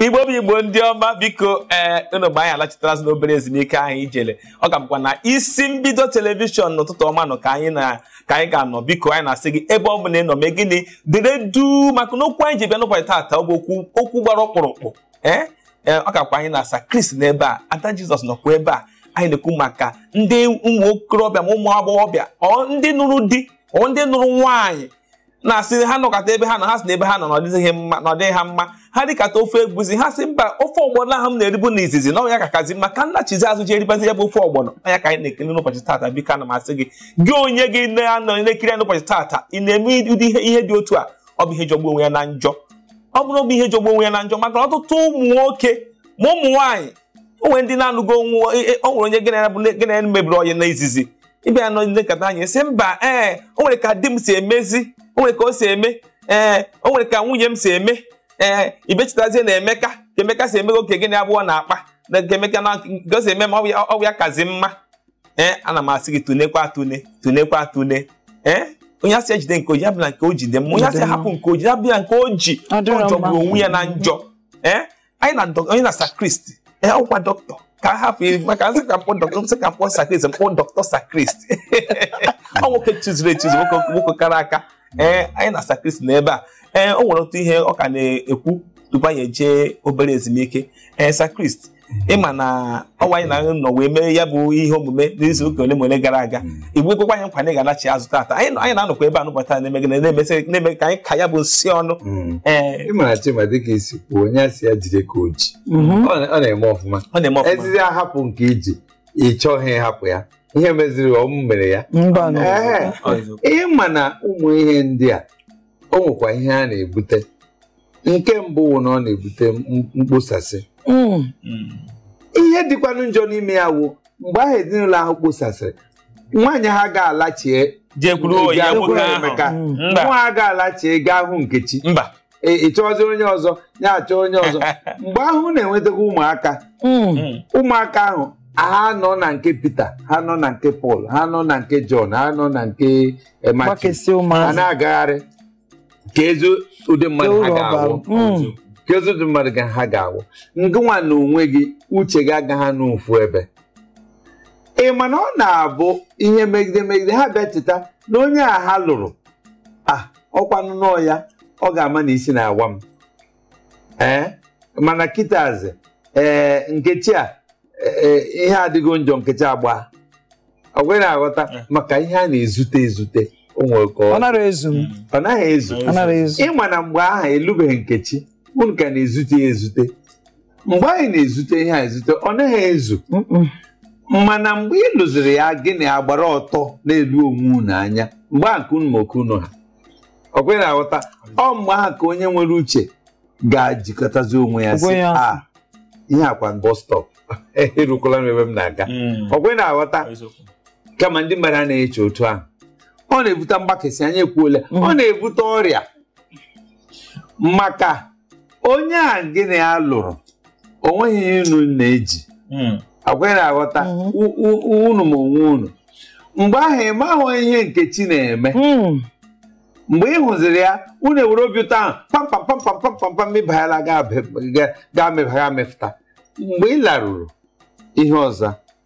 igbo bụ igbo ndị ọma biko ee unu mgbe anyị alachitarazi n'obere ezumike ahụ ijele ọ ka bụkwa na isi mbido telivishọn n'ụtụtụ ọma nụ ka anyị na ka anyị ga-anọ biko anyị na-asị gị ebe ọ bụla ị nọ mee gịnị dere duu maka na okwu anyị ji bịa n'ụbọchị taata ọ bụ okwu okwu gbara ọkpụrụkpụ ee ee ọ kakwa anyị na sakrist n'ebe a ada Jizọs nọkwa ebe a anyị na-ekwu maka ndị ụmụ okorobịa ma ụmụ agbọghọbịa ọ ndị nụrụ di ọ ndị nụrụ nwaanyị na-asị ha nọkọta ebe ha nọ ha sị na ebe ha nọ na ọdịghị mma na ọdịghị ha mma ha rikata ofe egwusi ha sị mba ofe ọgbọnọ ahụ m na-eribu na izizi na ọ nya kakazi mma ka m nachizi azụ ji eribazi ya bụ ofe ọgbọnọ ọ nya ka anyị na-ekiri n'ụbọchị taata biko ana m asị gị gị onye gị na-anọ na-ekiri ya n'ụbọchị taata ị na-eme ụdị ihe ihe dị otu a ọ bụ ihe jọgbu onwe ya na njọ ọ bụrụ bụ ihe jọgbu onwe ya na njọ maka ọtụtụ ụmụ nwoke ma ụmụ nwaanyị o nwe ndị na-anụgo o nwe e, e, o nwere onye gị na ya mebiri onye na izizi ị bịa nọkata anyị sị mba ee o nwere ka di m si emezi o nwere ka o si eme ee o nwere ka nwunye m si eme ee ị bịa chetazie na emeka ka emeka si emego oge gị na ya abụọ na-akpa na nke emeka na nke o si eme ma ọ bụ ya kazi mma ee ana m asị gị tunekwa atune tunekwa atune ee onye a sị ya jide nke o ji ọ bụ na nke o ji dị mma onye a sị hapụ nke o ji ọ bụ na nke o ji ọ jọgburu onwe ya na njọ ee anyị na onye na sakrist ya ọkwa dọkịta ka a hapụ maka m sị ka m kpọọ dọkịta m sị ka m kpọọ sakrist m kpọọ dọkịta sakrist ọ nwoke chizuru echizu nwoke kara aka ee anyị na sakrist na ebe a ee o nwere otu ihe ọ ka na-ekwu tupu anyị ejee obere ezumike ee sakrist ị ma na ọ wụ anyị na nọ wee mee ya bụ ihe omume n'izu ụka ole ma ole gara aga i wee kwekwa anyị nkwa na ị ga-anachi azụ taata anyị nọ- anyị na-anọkwa ebe a n'ụbọchị taa na-eme gị na- na-emesị na-eme ka anyị ka ya bụ nsi ọnụ Mm. ee ị mara chima dịka i si kwuo onye a sị ya jide ka o ji mhm. ọ na- ọ na-eme ọfụma ọ na-eme ọfụma ezizi ahapụ nke i ji ị chọghị ịhapụ ya ihe meziri ọ m mere ya mba nụ. Ee. Ọ eziokwu. ị ma na ụmụ ihe ndị a o nwekwa ihe ha na-ebute nke mbụ wụ na ọ na-ebute m- mkposasị Mm. ihe dịkwanụ njọ n'ime ya wụ mgbe ahụ ezinụlọ ahụ kposasịrị nwaanyị ahụ ga-alachie jekwuru oyi ya nwoke ahụ Emeka mba nwa ahụ ga-alachie gaa hụ Nkechi mba Ị- ị chọọzi onye ọzọ ya achọ onye ọzọ mgbe ahụ unu enwetakwa ụmụaka Mm. ụmụaka ahụ ha nọ na nke Pita ha nọ na nke Pọl ha nọ na nke Jọn ha nọ na nke eh, Matiu gbakesịa ụmụazị na-agagharị kezi ụdị mmadụ ha ga-awụ hmm. kezi ụdị mmadụ ga ha ga-awụ ngịnwa na onwe gị uche gị agaghị n'ofu ebe ị ma na ọ na-abụ ihe megide megide ha bịa cheta na onye a ha lụrụ a ah, ọkwanụ na ọ ya ọ ga-ama na isi na-awa m ee mana kitazi ee nkechi a ihe adịgo njọ nkechi agbaa ọkwa ị na-aghọta maka ihe a na-ezute ezute ọ naghị ezu ịma na mgbe ahụ ị lụbeghị nkechi unu ka na-ezute ya ezute mgbe anyị na-ezute ihe a ezute ọ naghị ezu mana mgbe ị lụziri ya gị na ya agbara ọtọ na-ele onwe unu anya mgbe ahụ ka unu ma oke unu ha ọkwa ị na-aghọta ọ mgbe ahụ ka onye nwere uche ga-ejikọtazi onwe ya sị ah, ihe a kwa bus stop erukwala m ebe m na-aga hmm. ọkwa ị na-aghọta kama ndị mmadụ anaghị eche otu ahụ ọ na-ebute mgbakasị anyị ekwuola ọ hmm. na-ebute ọrịa maka onye a gị na ya lụrụ o nweghị ihe unu na-eji hmm. ọkwa ị na-aghọta hmm. unu ma onwe unu mgbe ahụ ị mahụ ihe nkechi na-eme hmm. mgbe ị hụziri ya unu ewere obi ụtọ ahụ pampampampampampam mebaghala ga mebagha mefụta mgbe ị laruru ihe ọzọ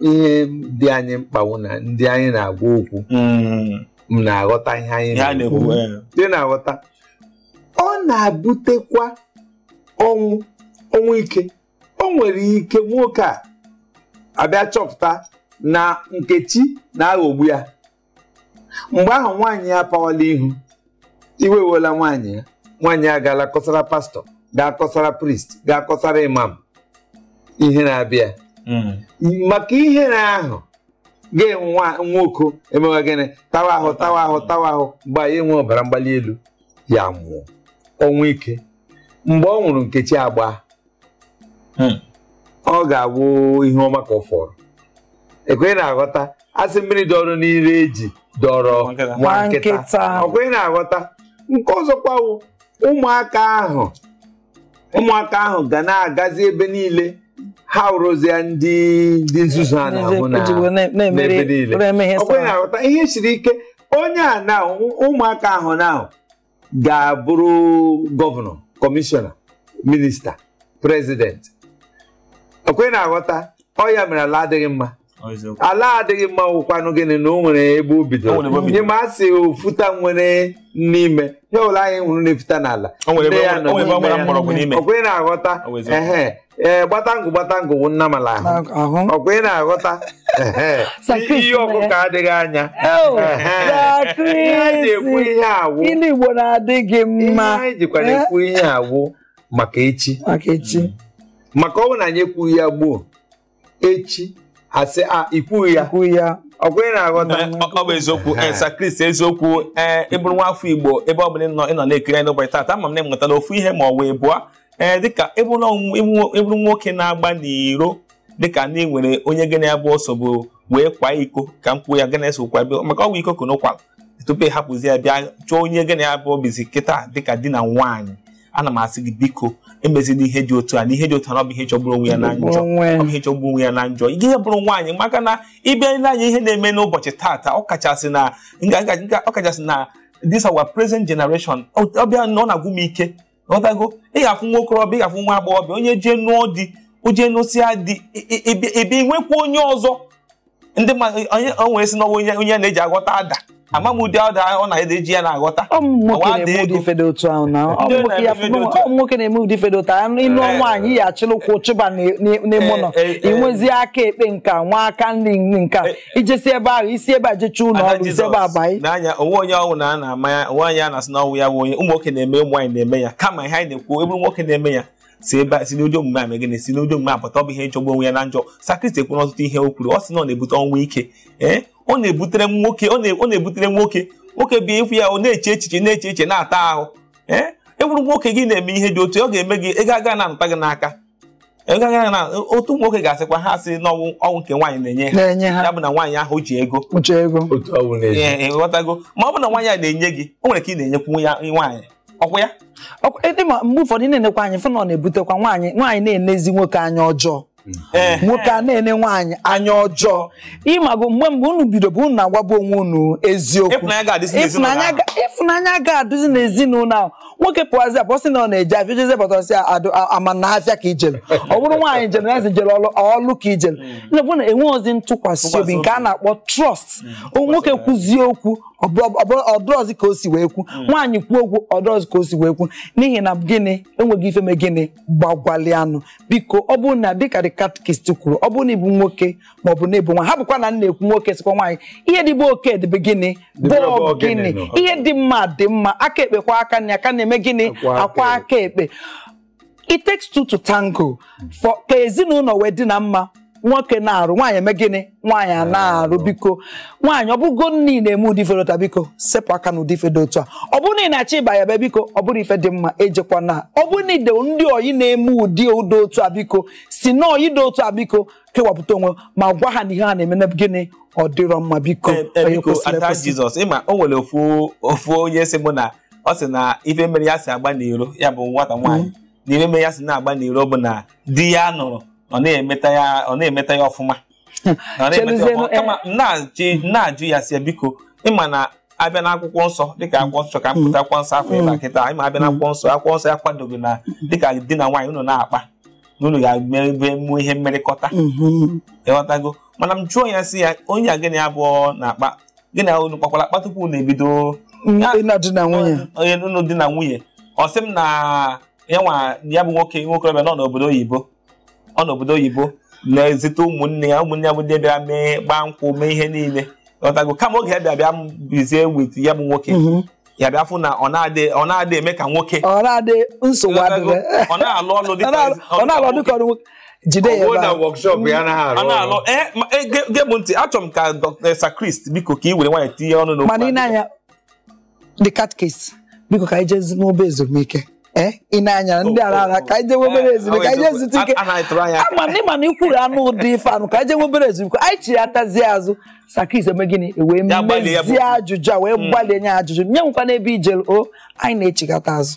ihe dị anyị mkpa wụ na ndị anyị na-agwa okwu Mm. m na-aghọta ihe anyị Ihe a na-ekwu na-ekwu eh. ị na-aghọta ọ na-ebutekwa ọnwụ ọnwụ ike o nwere ike nwoke a abịa chọpụta na nkechi na-aghọgbu ya mgbe ahụ nwaanyị ya apawala ihu iwe ewela nwaanyị ya nwaanyị ya gaala kọsara pastọ gaa kọsara priest gaa kọsara imam ihere abịa hmm. maka ihere ahụ ga-enwe nwoke emewe gịnị tawa ahụ tawa ahụ tawa ahụ mgbe ahụ ya enwee ọbara mgbali elu ya nwụọ ọnwụ ike mgbe ọ nwụrụ nkechi agbaa hmm. ọ ga-abụ ihe ọma ka ọ fọrọ ọkwa ị na-aghọta a sị mmiri dọrọ n'ime eju dọọrọ nwa nkịta ọkwa ị na-aghọta nke ọzọkwa ụmụaka ahụ ụmụaka ahụ ga na-agazi ebe niile ha wụrụzie ndị ndị nzuzu a na-ahụ n'ebe niile ọkwa ị na-aghọta ihe siri ike onye a na ụmụaka ahụ na ga-abụrụ gọvanọ kọmishọna minista prezidenti ọkwa ị na-aghọta ọ ya mere ala adịghị mma Ọ eziokwu. ala adịghị mma wụkwanụ gịnị na o nwere ebe o O nwere ebe o bidoro bidoro. ya mere a sị ofuta nwere n'ime ihe ọ wụla anyị hụrụ na-efuta n'ala O nwere ebe- Nne ya nọ o nwere ebe ọ gbara n'ime ya. mgbọrọgwụ n'ime. Ọkwa ị na-aghọta O wezụga. ehe ee gbatangụ gbatangụ wụ nnamala ahụ ọkwa ị na-aghọta ihe ọkụkọ adịghị anyị ji ekwu ihe a wụ Igbo na-adị gị mma anyị jikwara ekwu ihe a wụ maka echi maka ọ bụ na anyị ekwughị ya gboo echi asị a ikwughị ya ọkwa ị na-aghọta ọ bụ eziokwu Sir eh, Chris eziokwu ee eh, ị bụrụ nwa afọ igbo ebe ọ bụla ị nọ na-ekiri anyị n'ụbọchị taata ama m na ị mụtala ofu ihe ma ọ wụ abụọ ee eh, dịka ị bụrụ nwoke na-agba n'iro dịka ndị nwere onye gị na ya bụ sobu wee kwa iko ka m kwuo ya gị na ya so kwa maka ọ bụ iko ka unu kwala tupu ị hapụzi ya bịa chọọ onye gị na ya bụ bizi kịta dịka di na nwaanyị ana m asị gị biko emezina ihe dị otu a na ihe dị otu a ọ bụ ihe jọgburu onwe ya na njọ ọ bụ ihe jọgburu onwe ya na njọ ị bụrụ nwaanyị maka na ị bịa nee anya ihe na-eme n'ụbọchị taata ọ kachasị na ọ kachasị na this our present generation ọ bịa na ọ na-agwụ m ike ghọtago ị ga-afụ nwa okorobịa ị ga-afụ nwa agbọghọbịa onye jee nụọ di o je nụsịa di bịa nwekwa onye ọzọ ndị mmadụ onye onwe sị na ọ wụ onye onye na-eji aghọta ada ama m ụdị ada ọ na-eji ya na-aghọta nwoke na-eme ụdị ife dị otu a ị nụọ nwaanyị ya achịlịkwu chịba n'ime ụlọ i nwezi aka ekpe nka nwee aka nri nka i jesi ebe ahụ i si ebe a jecha ụlọ Ada ọrụ i si ebe a Jizọs banye n'anya o nwe onye ọ wụ na a na-ama ya o nwe onye a na-asị na ọ wụ ya bụ onye ụmụ nwoke na-eme ụmụ nwaanyị na-eme ya kama ihe anyị na-ekwu ị bụrụ nwoke na-eme ya si ebe a si n'ụdị omume a mee gịnị si n'ụdị omume a pụta ọ bụ ihe na-ajọgbu onwe ya na njọ Sir Chris kwuru ọtụtụ ihe o kwuru ọ sị na ọ na-ebute ọnwụ ike ee ọ na-ebutere m nwoke ọ na- ọ na-ebutere nwoke nwoke bịa ịfụ ya ọ na-eche echiche na-eche echiche na-ata ahụ ee ị bụrụ nwoke gị na-eme ihe dị otu a ọ ga-eme gị ego aga na-anọta gị n'aka otu nwoke ga-asịkwa ha sị na ọ wụ ọ wụ nke nwaanyị na-enye ha ya bụ na nwaanyị ahụ ji ego ị ghọtago ma ọ bụ na nwaanyị a na-enye gị o nwere ka ị na-enyekwu ya nwaanyị ọkwa ya e, mgbe ụfọdụ ị na-enekwa anya fụ na ọ na-ebutekwa nwaanyị nwaanyị na-enezi nwoke anya ọjọọ Eh. nwoke a na-ene nwaanyị anya ọjọọ ị mago mgbe mgbe unu bidobu unu na-agwabu onwe unu eziokwu ịfụnanya ga-adịzi n'ezinụlọ ahụ nwoke pụazi apụ sị na ọ na-eje afịa jezie bata sị ama na afịa ka i jere ọ bụrụ nwaanyị jere na ezi jere ọlụ ka i jere hmm. na na enwerọzi ntụkwasị obi nke a na-akpọ trust hmm. nwoke kwuzie okwu ọ dịrọzi ka o si wee kwu hmm. nwaanyị kwuo okwu ọ dịrọzi ka o si wee kwu n'ihi na gịnị e nwego ife me gịnị gbagwalị anụ biko ọ bụrụ na dịka the catechist kwuru ọ bụrụ na ị bụ nwoke ma ọ bụ na ị bụ nwa ha bụkwa na na-ekwu nwoke sikwa nwaanyị ihe dị be oke dị be gịnị be ogini ihe dị mma dị mma aka ekpe kwọọ aka nri aka nri eme gịnị akwọọ aka ekpe it takes two to tango for ka ezinụlọ wee dị na mma nwoke na-arụ nwaanyị eme gịnị nwaanyị a na-arụ biko nwaanyị ọ bụrụ na ị na-eme ụdị ife dị otu a biko sepụ aka na ụdị ife dị otu a ọ bụrụ na ị na-achọ ịba ya be biko ọ bụrọ ife dị mma ejekwana ọ bụrụ na i nwe ndị ọyị na-eme ụdị ụdị otu a biko si na ọyị dị otu a biko kewapụta onwe ma gwa ha na ihe ha na-eme na gịnị ọ dịrọ mma biko Ee, ee, onye biko kwesịrị ada ekwesị. jizọs ịma o nwere ofu ofu onye sị mụ na ọ sị na ife mere ya si agba n'iro ya bụ nwata nwaanyị na ife mere ya si na-agba n'iro bụ na di ya nụrụ ọ na-emeta ya ọ na-emeta ya ọfụma Ọ na-emeta ya Cheluzienu, ọfụma. Kama m na-ajụ- m na-ajụ ya sị ya biko ị ma na a bịa na akwụkwọ nsọ dịka akwụkwọ nsọ ka m pụta akwụkwọ nsọ afọ ịba kịta ị ma a bịa na akwụkwọ nsọ akwụkwọ nsọ akwadoghị na dịka di na nwaanyị unu na-akpa na unu ga-ebe emuo ihe mmerịkọta mhm. ịghọtago mana m jụọ ya sị ya onye a gị na ya abụọ na-akpa gị na unu kpakwara akpa tupu unu ebido di na nwunye onye unu di na nwunye ọ sị m na ya nwa ya bụ nwoke nwokorobịa nọ n'obodo oyibo ọ n'obodo oyibo na-ezite ụmụnne ya ụmụnne ya bụ ndị bịara mee gbaa nkwụ mee ihe niile ịghọtago kama oge ya bịa bịa bizie with ya bụ nwoke mhm. ya bịa fụ na ọ na-adị ọ na-adị eme ka nwoke ọ na-adị nsogbu adịghị ọ na-alụ ọlụ dị ka ọ na-alụ ọlụ ka ọlụ nwoke jide ya ebe a ọ na-alụ ee e, gee m ntị achọrọ m ka Dr. Sir Chris biko ka ị were nwayọọ tinye ọnụ n'okwu mana ị na-anya the catechist biko ka anyị jezi n'obere ezumike Eh, ị na-anya ndị oh, ara oh, ara oh. ka anyị jee eh, ezumike ka anyị jee ike ama na ịma na ikwuru anụ ụdị ife anụ ka anyị jee nwee obere ezumike anyị chighatazie azụ Sir Chris eme gịnị e wee mezie ajụjụ a wee hmm. gbalie nye ajụjụ onye enwekwana ebe i jere o anyị na-echighata azụ